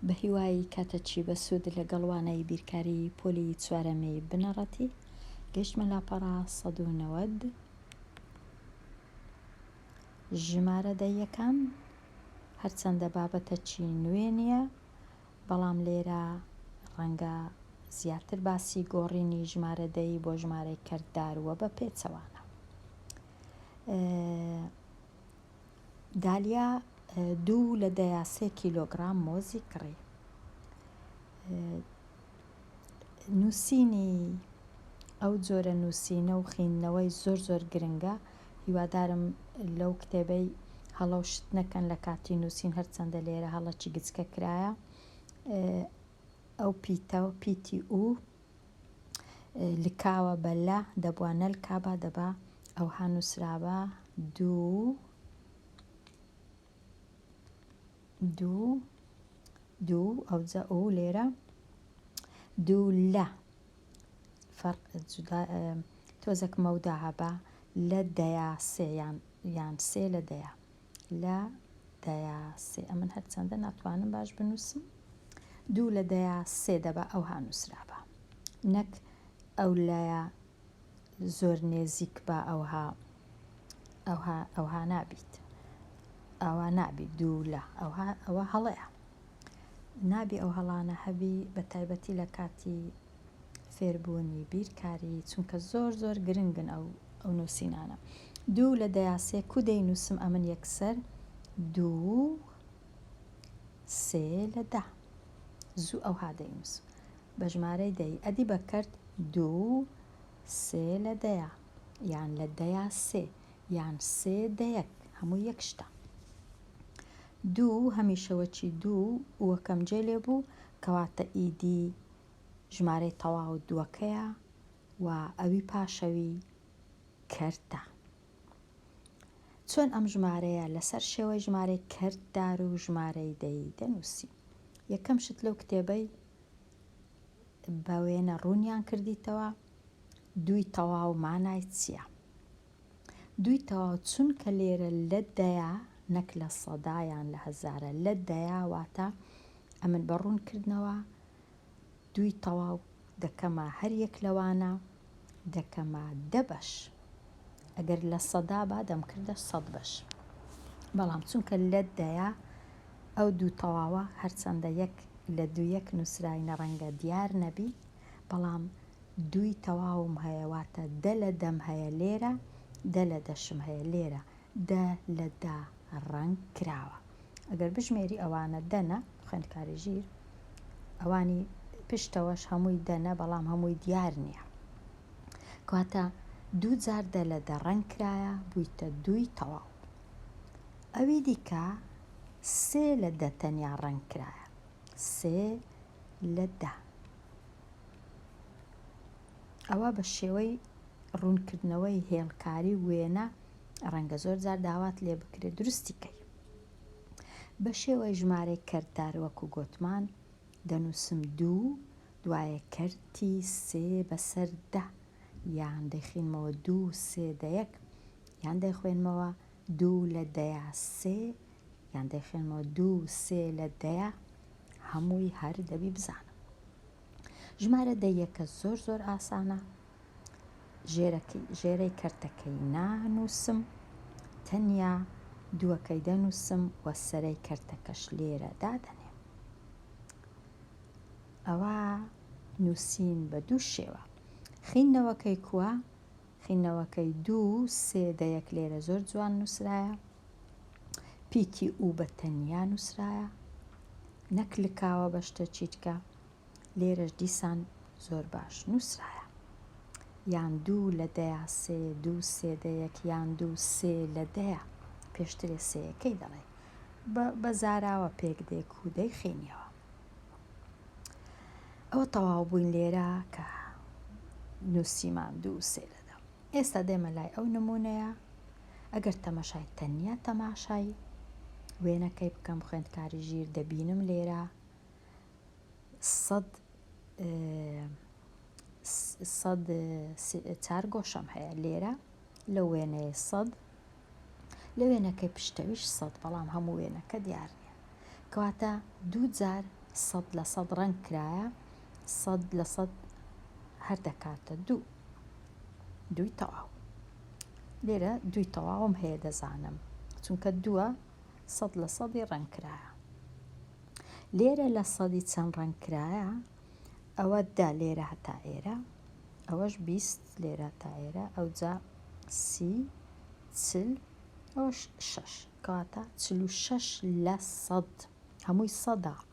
بەهیوای کاتەچی بەسود لەگەڵ وانەی بیرکاری پۆلی چوارەمی بنەڕەتی گەیشتمە لاپەڕە سەد و نەوەد ژمارە دەیەکان هەرچەندە بابەتە چی نوێ نییە بەڵام لێرە ڕەنگە زیاتر باسی گۆڕینی ژمارە دەی بۆ ژمارەی کەردار وە بە پێچەوانە دالیا دوو لە دەیا سێ کیلۆگرام مۆزی کڕی. نووسینی ئەو جۆرە نووسینە و خویندنەوەی زۆر زۆر گرنگە، هیوادارم لەو کتێبەی هەڵە و شت نەکەن لە کاتی نووسین هەرچەندە لێرە هەڵەکی گچکە کرایە، ئەو پیتە پیتی ئوو لکاوە بە لە دەبوا نەلکابا دەبا ئەوها نووسرابا دوو دوو دوو ئەوجا ئەو لێرە دوو لە فەرق جودا تۆزەک مەودا هەبا لە دەیا سێ یان یان سێ لە دەیا لە دەیا سێ ئەمن هەرچەندە ناتوانم باش بنووسم دوو لە دەیا سێ دەبا ئەوها نووسرابا نەک ئەو لایە زۆر نێزیک بە ئەوها ئەوها ئەوها نابیت ئەوە نابی دوو لە ئەوها ئەوە هەڵەیە نابی ئەو هەڵانە هەبی بە تایبەتی لە کاتی فێربوونی بیرکاری چونکە زۆر زۆر گرنگن ئەو ئەو نووسینانە دوو لە دەیاسێ کو دەینووسم ئەمن یەکسەر دوو سێ لە دە زوو ئەوها دەینووسم بە ژمارەی دەی ئەدی بەکرد دوو سێ لە دەیە یان لە دەیا سێ یان سێ دەیەک هەموو یەک شتە دوو هەمیشەوەچی دوو وەکەم جێ لێ بوو کەواتە ئیدی ژمارەی تەواو دووەکەیە و ئەوی پاشەوی کەرتە. چۆن ئەم ژمارەیە لەسەر شێوەی ژمارەی کەرتدار و ژمارەی دەی دەنووسی؟ یەکەم شت لەو کتێبەی بە وێنە ڕوونیان کردیتەوە دووی تەواو مانای چییە؟ دووی تەواو چونکە لێرە لە دەیە نەک لە سەدا یان لە هەزارە لە دەیە واتە ئەمن بە ڕوونکردنەوە دووی تەواو دەکەمە هەر یەک لەوانە دەکەمە دە بەش ئەگەر لە سەدا با دەمکردە سەد بەش بەڵام چونکە لە دەیە ئەو دوو تەواوە هەرچەندە یەک لە دوو یەک نووسراوینە ڕەنگە دیار نەبی بەڵام دووی تەواوم هەیە واتە دە لە دەم هەیە لێرە دە لە دەشم هەیە لێرە دە لە دا ڕەنگ کراوە ئەگەر بژمێری ئەوانە دەنە خوێندکاری ژیر ئەوانی پشتەوەش هەمووی دەنە بەڵام هەمووی دیار نییە کاتە دوو جار دە لە دەڕەنگ کرایە بوویتە دووی تەواو ئەوی دیکە سێ لە دە تەنیا ڕەنگ کرایە سێ لە دە. ئەوە بە شێوەی ڕوونکردنەوەی هێڵکاری و وێنە ڕەنگە زۆر جار داوات لێ بکرێت دروستی کەی. بە شێوەی ژمارەی کەرتدار وەکو گۆتمان دەنووسم دوو دوایە کەرتی سێ بەسەر دە یان دەیخینمەوە دوو سێ دە یەک یان دەیخوێنمەوە دوو لە دەیا سێ یان دەیخوێنمەوە دوو سێ لە دەیە هەمووی هەر دەبی بزانم ژمارە دەیەکە زۆر زۆر ئاسانە ژێرەی کەرتەکەی نانووسم تەنیا دووەکەی دەنووسم وە سەرەی کەرتەکەش لێرە دادەنێم ئەوە نووسین بە دوو شێوە خینەوەکەی کووە خینەوەکەی دوو سێ دەیەک لێرە زۆر جوان نووسرایە پیتی ئوو بە تەنیا نووسرایە نەک لکاوە بە شتە چیتکە لێرەش دیسان زۆر باش نووسرایە یان دوو لە دەیا سێ دوو سێ دەیەک یان دوو سێ لە دەیە پێشترێ سێیەکەی دەڵێ بە زاراوە پێک دێ کوودەی خێنیەوە ئەوە تەواو بووین لێرە کە نووسیمان دوو سێ لەدا ئێستا دێمە لای ئەو نمونەیە ئەگەر تەمەشای تەنیا تەماشای وێنەکەی بکەم خوێندکاری ژیر دەبینم لێرە سەد سەد چار گۆشەم هەیە لێرە لە وێنەیە سەد لە وێنەکەی پشتەویش سەد بەڵام هەموو وێنەکە دیار نیە کەواتە دوو جار سەد لە سەد ڕەنگ کرایە سەد لە سەد هەر دەکاتە دوو دووی تەواو لێرە دووی تەواوم هەیە دەزانم چونکە دووە سەد لە سەدی ڕەنکرایە لێرە لە سەدی چەند ڕەنکرایە ئەوە دا لێرە هەتا ئێرە ئەوەش بیست لێرە تا ئێرە ئەو جا سی چل ئەوش شەش کەواتە چل و شەش لە سەد هەمووی سەدا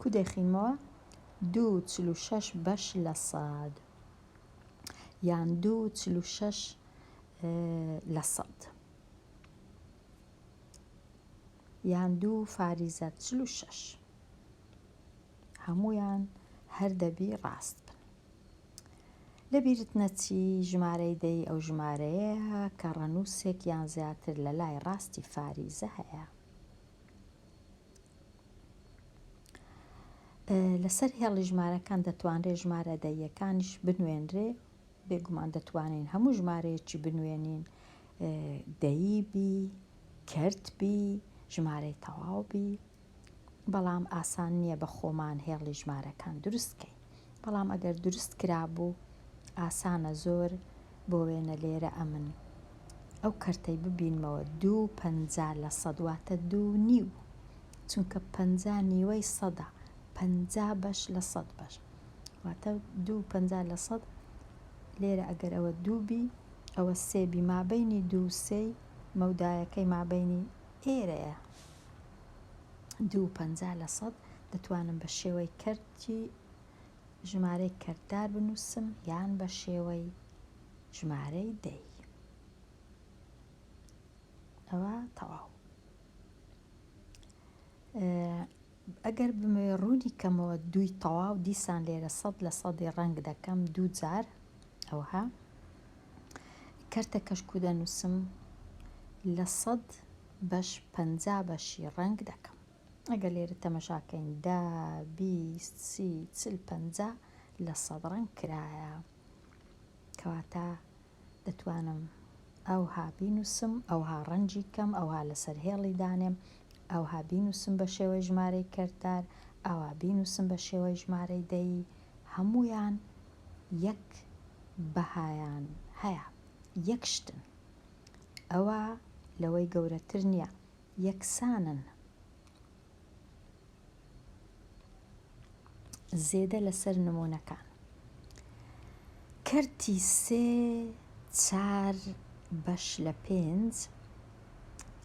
کو دەیخینمەوە دوو چل و شەش بەش لە سەد یان دوو چل و شەش لە سەد یان دوو فاریزە چل و شەش هەمویان هەر دەبی ڕاست بن لە بیرت نەچی ژمارەی دەی ئەو ژمارەیە کە ڕەنووسێک یان زیاتر لە لای ڕاستی فاریزە هەیە لەسەر هێڵی ژمارەکان دەتوانرێت ژمارە دەییەکانیش بنوێنرێ بێگومان دەتوانین هەموو ژمارەیەکی بنوێنین دەیی بی کرد بی ژمارەی تەواو بی بەڵام ئاسان نییە بە خۆمان هێڵی ژمارەکان دروستکەین بەڵام ئەگەر دروست کرابوو ئاسانە زۆر بۆ وێنە لێرە ئەمن ئەو کەرتەی ببینمەوە دوو پەنجا لە سەد واتە دوو نیو چونکە پەنجا نیوەی سەدە پەنجا بەش لە سەد بەش واتە دوو پەنجا لە سەد لێرە ئەگەر ئەوە دوو بی ئەوە سێ بی مابینی دوو سێی مەودایەکەی مابینی ئێرەیە دوو پەنجا لە سەد دەتوانم بە شێوەی کەرت چی ژمارەی کەرتدار بنووسم یان بە شێوەی ژمارەی دەی؟ ئەوە تەواو. ئەگەر بمەوێ ڕوونی کەمەوە دووی تەواو دیسان لێرە سەد لە سەدی ڕەنگ دەکەم دوو جار ئەوها کەرتە کەشکو دەنووسم لە سەد بەش پەنجا بەشی ڕەنگ دەکەم ئەگەر لێرە تەمەشا کەین دە، بیست، سی، چل، پەنجا لە سەد ڕەنگ کرایە. کەواتە دەتوانم ئەوها بینووسم، ئەوها ڕەنگی کەم، ئەوها لەسەر هێڵی دانێم، ئەوها بینووسم بە شێوەی ژمارەی کەرتار، ئەوها بینووسم بە شێوەی ژمارەی دەیی، هەموویان یەک بەهایان هەیە، یەک شتن. ئەوە لەوەی گەورەتر نییە. یەکسانن زێدە لەسەر نموونەکان کەرتی سێ چار بەش لە پێنج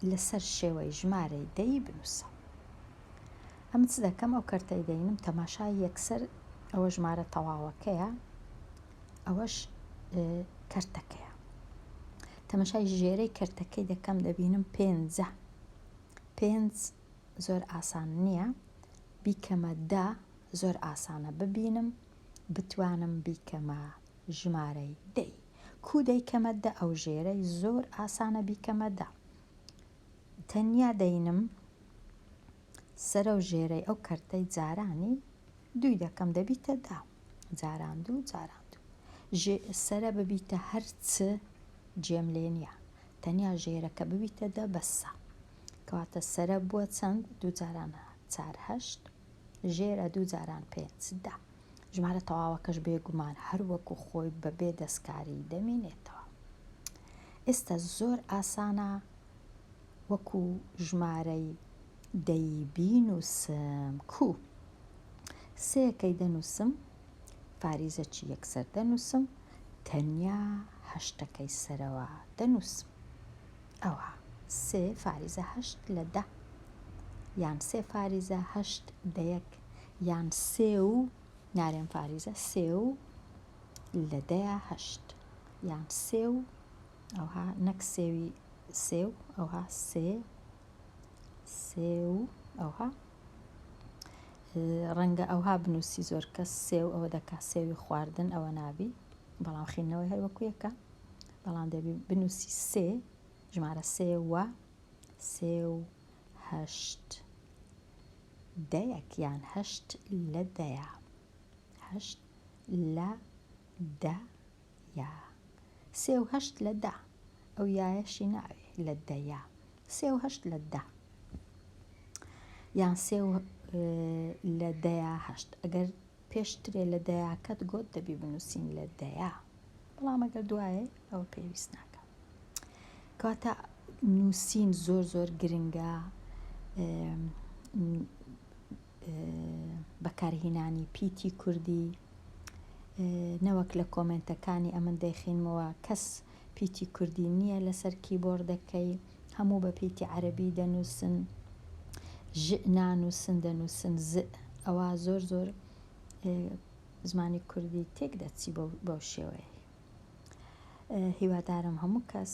لەسەر شێوەی ژمارەی دەی بنووسە ئەم چ دەکەم ئەو کەرتەی دەینم تەماشای یەکسەر ئەوە ژمارە تەواوەکەیە ئەوەش کەرتەکەیە تەمەشای ژێرەی کەرتەکەی دەکەم دەبینم پێنجە پێنج زۆر ئاسان نییە بیکەمە دا زۆر ئاسانە ببینم بتوانم بیکەمە ژمارەی دەی کو دەیکەمە دە ئەو ژێرەی زۆر ئاسانە بیکەمە دا تەنیا دەینم سەرە و ژێرەی ئەو کەرتەی جارانی دووی دەکەم دەبیتە دە. جاران دوو جاران دوو. ژێ سەرە ببیتە هەر چ جێم لێ نییە. تەنیا ژێرەکە ببیتە دە بەسە. کەواتە سەرە بووە چەند؟ دوو جاران چار هەشت. ژێرە دوو جاران پێنج دە. ژمارە تەواوەکەش بێگومان هەر وەکوو خۆی بە بێ دەستکاری دەمینێتەوە. ئێستا زۆر ئاسانە وەکوو ژمارەی دەی بینووسم کو سێەکەی دەنووسم فاریزەکی یەکسەر دەنووسم تەنیا هەشتەکەی سەرەوە دەنووسم ئەوە سێ فاریزە هەشت لە دە یان سێ فاریزە هەشت دەیەک یان سێ و نارێن فاریزە سێ و لە دەیا هەشت یان سێ و ئەوها نەک سێوی سێ و ئەوها سێ سێو ئەوها ڕەنگە ئەوها بنووسی زۆر کەس سێو ئەوە دەکا سێوی خواردن ئەوە نابی بەڵام خینەوەی هەروەکویەکە بەڵام دەبی بنووسی سێ ژمارە سێوە سێو هەشت دەیەک یان هەشت لە دەیە هەشت لە دە یا سێ و هەشت لە دە. ئەو یایەشی ناوێ لە دە یا سێ و هەشت لە دە. یان سێ و لە دەیا هەشت ئەگەر پێشترێ لە دەیاکەت گۆت دەبی بنووسین لە دەیا بەڵام ئەگەر دوایە ئەوە پێویست ناکە کاتە نووسین زۆر زۆر گرنگە بەکارهینانی پیتی کوردی نەوەک لە کۆمێنتەکانی ئەمن دەیخینمەوە کەس پیتی کوردی نییە لەسەر کیبۆردەکەی هەموو بە پیتی عەربی دەنووسن ژ نانووسن دەنووسن ز ئەوە زۆر زۆر زمانی کوردی تێک دەچی بەو شێوەیە هیوادارم هەموو کەس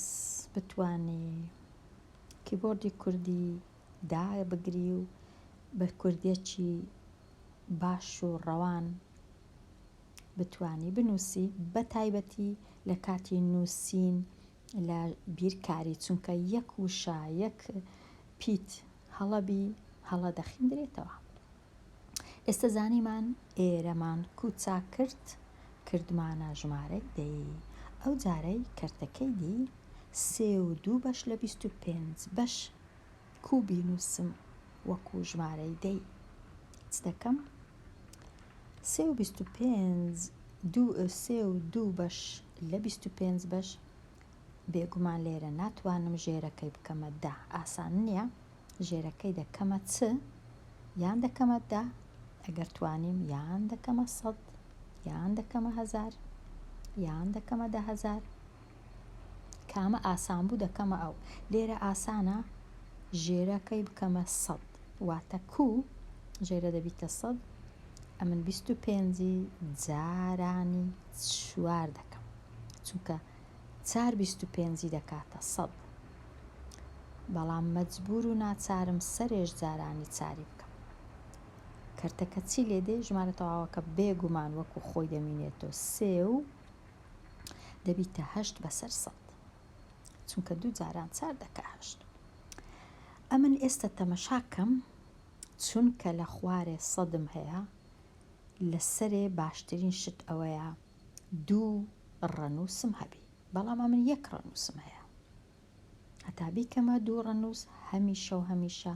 بتانی کیبۆردی کوردی دابگری و بەرکوردێکی باش و ڕەوان بتوانی بنووسی بە تایبەتی لە کاتی نووسین لە بیرکاری چونکە یەک وشە یەک پیت هەڵەبی هەڵە دەخیندرێتەوە. ئێستە زانیمان ئێرەمان کو چاک کرد کردمانە ژمارەی دەی ئەو جارەی کەرتەکەی دی سێ و دوو بەش لە بیست و پێنج بەش کو بینووسم وەکو ژمارەی دەی چ دەکەم سێ و بیست و پێنج دوو سێ و دوو بەش لە بیست و پێنج بەش بێگومان لێرە ناتوانم ژێرەکەی بکەمە دە ئاسان نییە ژێرەکەی دەکەمە چ یان دەکەمە دە ئەگەر توانیم یان دەکەمە سەد یان دەکەمە هەزار یان دەکەمە دە هەزار کامە ئاسان بوو دەکەمە ئەو لێرە ئاسانە ژێرەکەی بکەمە سەد واتە کو ژێرە دەبیتە سەد ئەمن بیست و پێنجی جارانی چوار دەکەم چونکە چار بیست و پێنجی دەکاتە سەد بەڵام مەجبور و ناچارم سەرێژ جارانی چاری بکەم کەرتەکە چی لێدێ ژمارە تەواوەکە بێگومان وەکو خۆی دەمینێتەوە سێ و دەبیتە هەشت بەسەر سەد چونکە دوو جاران چار دەکە هەشت ئەمن ئێستا تەمەشاکەم چونکە لە خوارێ سەدم هەیە لەسەرێ باشترین شت ئەوەیە دوو ڕەنووسم هەبی بەڵام ئەمن یەک ڕەنووسم هەیە هەتا بیکەمە دوو ڕەنووس هەمیشە و هەمیشە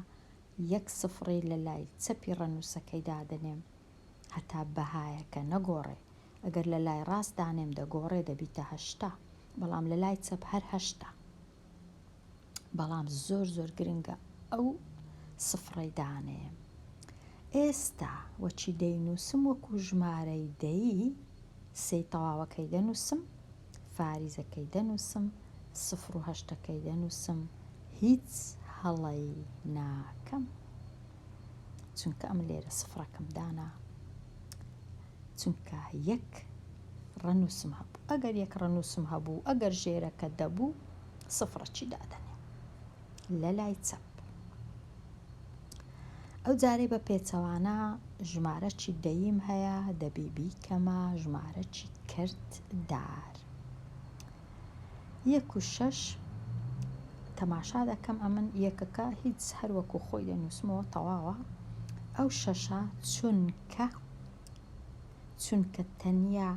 یەک سفڕی لە لای چەپی ڕەنووسەکەی دادەنێم هەتا بەهایەکە نەگۆڕێ ئەگەر لە لای ڕاست دانێم دەگۆڕێ دەبیتە هەشتا بەڵام لە لای چەپ هەر هەشتا بەڵام زۆر زۆر گرنگە ئەو سفڕەی دانێم ئێستا وەچی دەینووسم وەکو ژمارەی دەی سێی تەواوەکەی دەنووسم فاریزەکەی دەنووسم سفر و هەشتەکەی دەنووسم هیچ هەڵەی ناکەم چونکە ئەم لێرە سفرەکەم دانا چونکە یەک ڕەنووسم هەبوو ئەگەر یەک ڕەنووسم هەبوو ئەگەر ژێرەکە دەبوو سفڕەچی دادەنێ لە لای چەپ ئەو جارەی بە پێچەوانە ژمارەچی دەیم هەیە دەبی بیکەمە ژمارەچی کرد دار یەک و شەش تەماشا دەکەم ئەمن یەکەکە هیچ هەروەکو خۆی دەنووسمەوە تەواوە ئەو شەشە چونکە چونکە تەنیا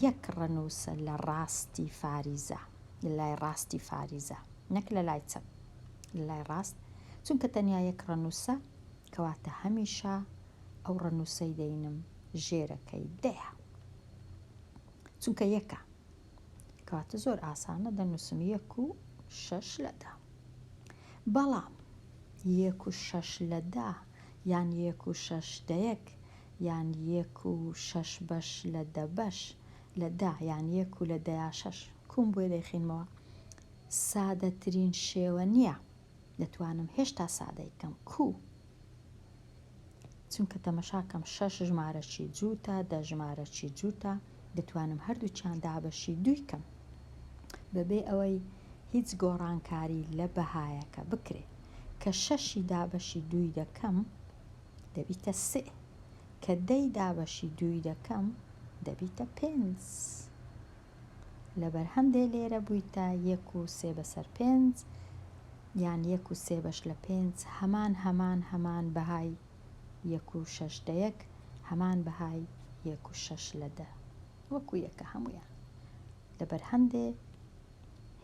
یەک ڕەنووسە لە ڕاستی فاریزە، لە لای ڕاستی فاریزە، نەک لە لای چەپ، لە لای ڕاست، چونکە تەنیا یەک ڕەنووسە، کەواتە هەمیشە ئەو ڕەنووسەی دەینم ژێرەکەی دەیە. چونکە یەکە. کەواتە زۆر ئاسانە دەنووسم یەک و شەش لە دە. بەڵام یەک و شەش لە دە یان یەک و شەش دەیەک یان یەک و شەش بەش لە دە بەش لە دە یان یەک و لە دەیا شەش کووم بۆی دەیخینمەوە سادەترین شێوە نییە دەتوانم هێشتا سادەی کەم کوو چونکە تەمەشاکەم شەش ژمارەی جووتە دە ژمارەی جووتە دەتوانم هەردووکیان دابەشی دووی کەم بەبێ ئەوەی هیچ گۆڕانکاری لە بەهایەکە بکرێ کە شەشی دابەشی دووی دەکەم دەبیتە سێ کە دەی دابەشی دووی دەکەم دەبیتە پێنج لەبەر هەندێ لێرە بوویتە یەک و سێ بەسەر پێنج یان یەک و سێ بەش لە پێنج هەمان هەمان هەمان بەهای یەک و شەش دە یەک هەمان بەهای یەک و شەش لە دە وەکو یەکە هەموویان لەبەر هەندێ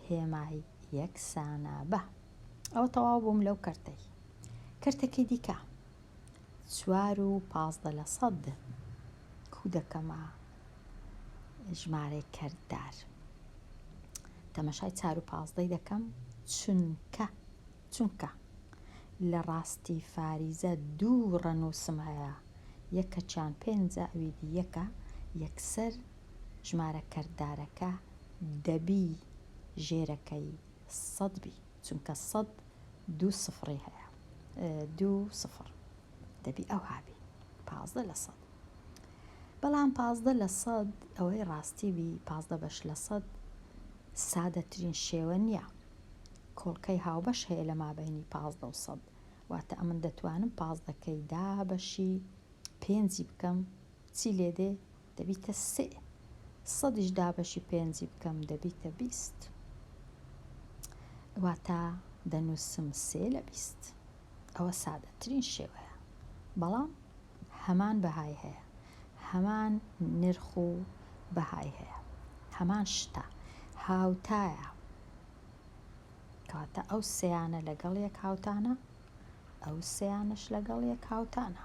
هێمای یەکسانە بە ئەوە تەواو بووم لەو کەرتەی کەرتەکەی دیکە چوار و پازدە لە سەد کو دەکەمە ژمارەی کەرتدار تەمەشای چار و پازدەی دەکەم چونکە چونکە لە ڕاستی فاریزە دوو ڕەنووسم هەیە، یەکەکیان پێنجە ئەوی دی یەکە، یەکسەر ژمارە کەرتدارەکە دەبی ژێرەکەی سەد بی، چونکە سەد دوو سفڕی هەیە، دوو سفڕ، دەبی ئەوها بی، پازدە لە سەد. بەڵام پازدە لە سەد ئەوەی ڕاستی بی، پازدە بەش لە سەد سادەترین شێوە نییە، کۆڵکەی هاوبەش هەیە لە مابەینی پازدە و سەد واتە ئەمن دەتوانم پازدەکەی دا بەشی پێنجی بکەم چی لێ دێ دەبیتە سێ سەدیش دا بەشی پێنجی بکەم دەبیتە بیست واتە دەنووسم سێ لە بیست ئەوە سادەترین شێوەیە بەڵام هەمان بەهای هەیە هەمان نرخ و بەهای هەیە هەمان شتە هاوتایە کەواتە ئەو سێیانە لەگەڵ یەک هاوتانە ئەو سێیانەش لەگەڵ یەک هاوتانە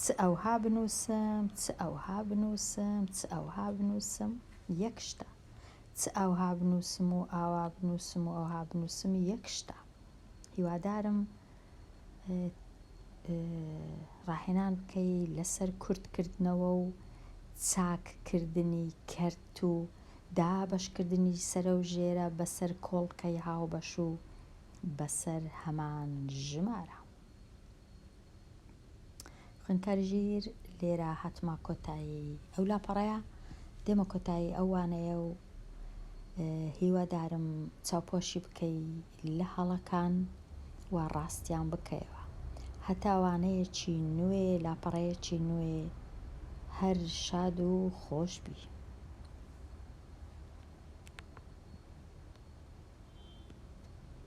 چ ئەوها بنووسم چ ئەوها بنووسم چ ئەوها بنووسم یەک شتە چ ئەوها بنووسم و ئاوا بنووسم و ئەوها بنووسم یەک شتە هیوادارم ڕاهێنان بکەی لەسەر کورت کردنەوە و چاک کردنی کەرت و دابەش کردنی سەرە و ژێرە بەسەر کۆڵکەی هاوبەش و بەسەر هەمان ژمارە. خوێندکاری ژیر لێرە هاتمە کۆتایی ئەو لاپەڕەیە دێمە کۆتایی ئەوانەیە و هیوادارم چاوپۆشی بکەی لە هەڵەکان و ڕاستیان بکەیەوە هەتاوانەیەکی نوێ لاپەڕەیەکی نوێ هەر شاد و خۆش بی